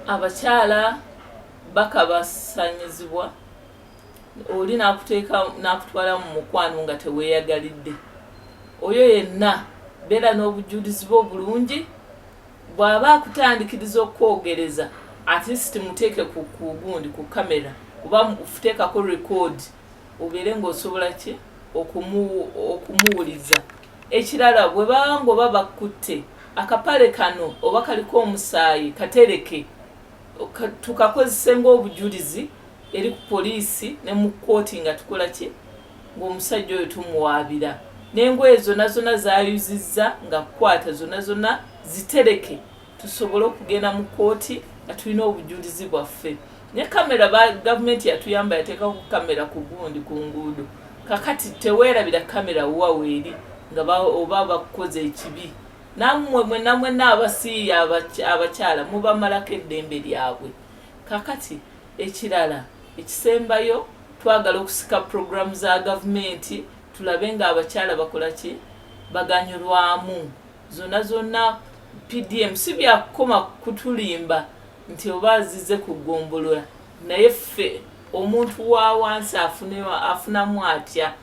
abakyala baka basanyizibwa oli nakuteeka nakutwala mu mukwano nga teweeyagalidde oyo yenna beera n'obujulizi bwe obulungi bw'aba akutandikiriza okukwogereza atleast muteeke ku gundi ku kamera oba muteekako record obeere ng'osobola ki okumuwuliza ekirala bwe baba ng'oba bakkutte akapale kano oba kaliko omusaayi katereke tukakozese ng'obujulizi eri ku poliisi ne mu kkooti nga tukola ki ng'omusajja oyo tumuwaabira n'engoye zonna zonna zayuzizza nga kukwata zonna zonna zitereke tusobole okugenda mu kkooti nga tulina obujulizi bwaffe ne kamera gavumenti yatuyamba yateekako kamera ku gundi ku nguudo kakati teweerabira kamera wa weeri nga oba bakukoze ekibi nammwe mwena mwena abasiiya abakyala mubamalako eddembe lyabwe kakati ekirala ekisembayo twagala okusika puroguramu za gavumenti tulabe ng'abakyala bakola ki baganyulwamu zona zona PDM si byakukoma kutulimba nti oba azize ku gombolola naye ffe omuntu wa wansi afunamu atya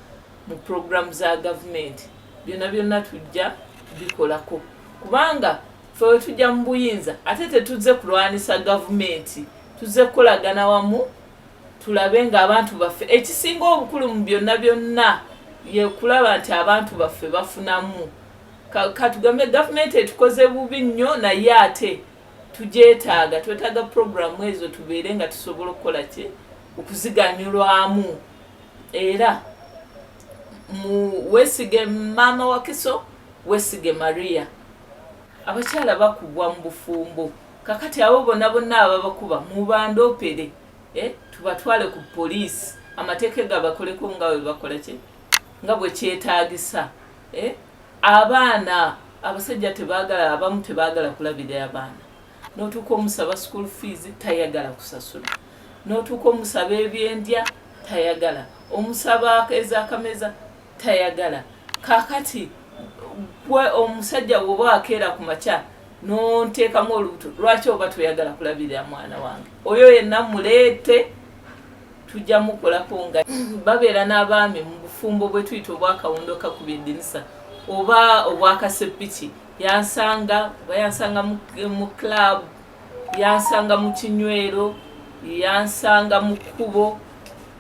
mu programu za gavumenti byonna byonna tujja bikolako kubanga fe wetujja mu buyinza ate tetuzze kulwanisa gavumenti tuzze kukolagana wamu tulabe nga abantu baffe ekisinga obukulu mu byonna byonna yekulaba nti abantu baffe bafunamu katugambe gavumenti etukoze bubi nnyo naye ate tugyetaaga twetaaga puroguramu ezo tubeere nga tusobola okukola ki okuziganyulwamu era wesige maama wakiso wesige maria abakyala bakubwa mu bufumbo kakati abo bona bonna ababakuba mubandopere eh, tubatwale ku poliisi amateeka egabakoleko nga webakolaki nga bwekyetagisa eh, abaana abasajja tebagala abamu tebagala kulabira abaana notuuka omusaba school fees tayagala kusasula notuuka omusaba ebyendya tayagala omusaba ezakameza tayagala kakati gwe omusajja woba akeera ku makya nonteekamu olubuto lwaki oba toyagala kulabirira mwana wange oyo yenna muleete tujja mukolako nga babeera n'abaami mu bufumbo bwe tuyita obwakawundo kakubye eddinisa oba obwakaseppiki yansanga oba yansanga mu club yansanga mu kinywero yansanga mu kkubo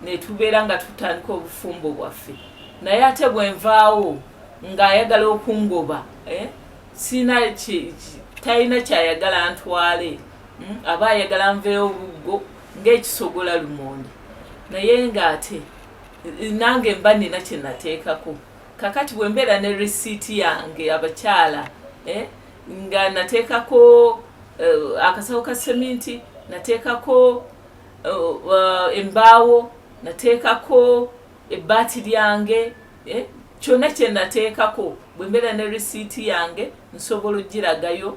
netubeera nga tutandika obufumbo bwaffe naye ate bwenvaawo ng'ayagala okungoba eh, sina talina kyayagala ntwale hmm, aba ayagala nveewo buggo ng'ekisogola lumonde naye ng'ate nange mba nina kye nateekako kakati bwe mbeera ne risiiti yange abakyala eh, nga nateekako eh, akasawo ka seminti nateekako eh, embaawo nateekako ebbaati lyange kyonna kye nateekako bwe mbeera ne risiiti yange nsobola okugiragayo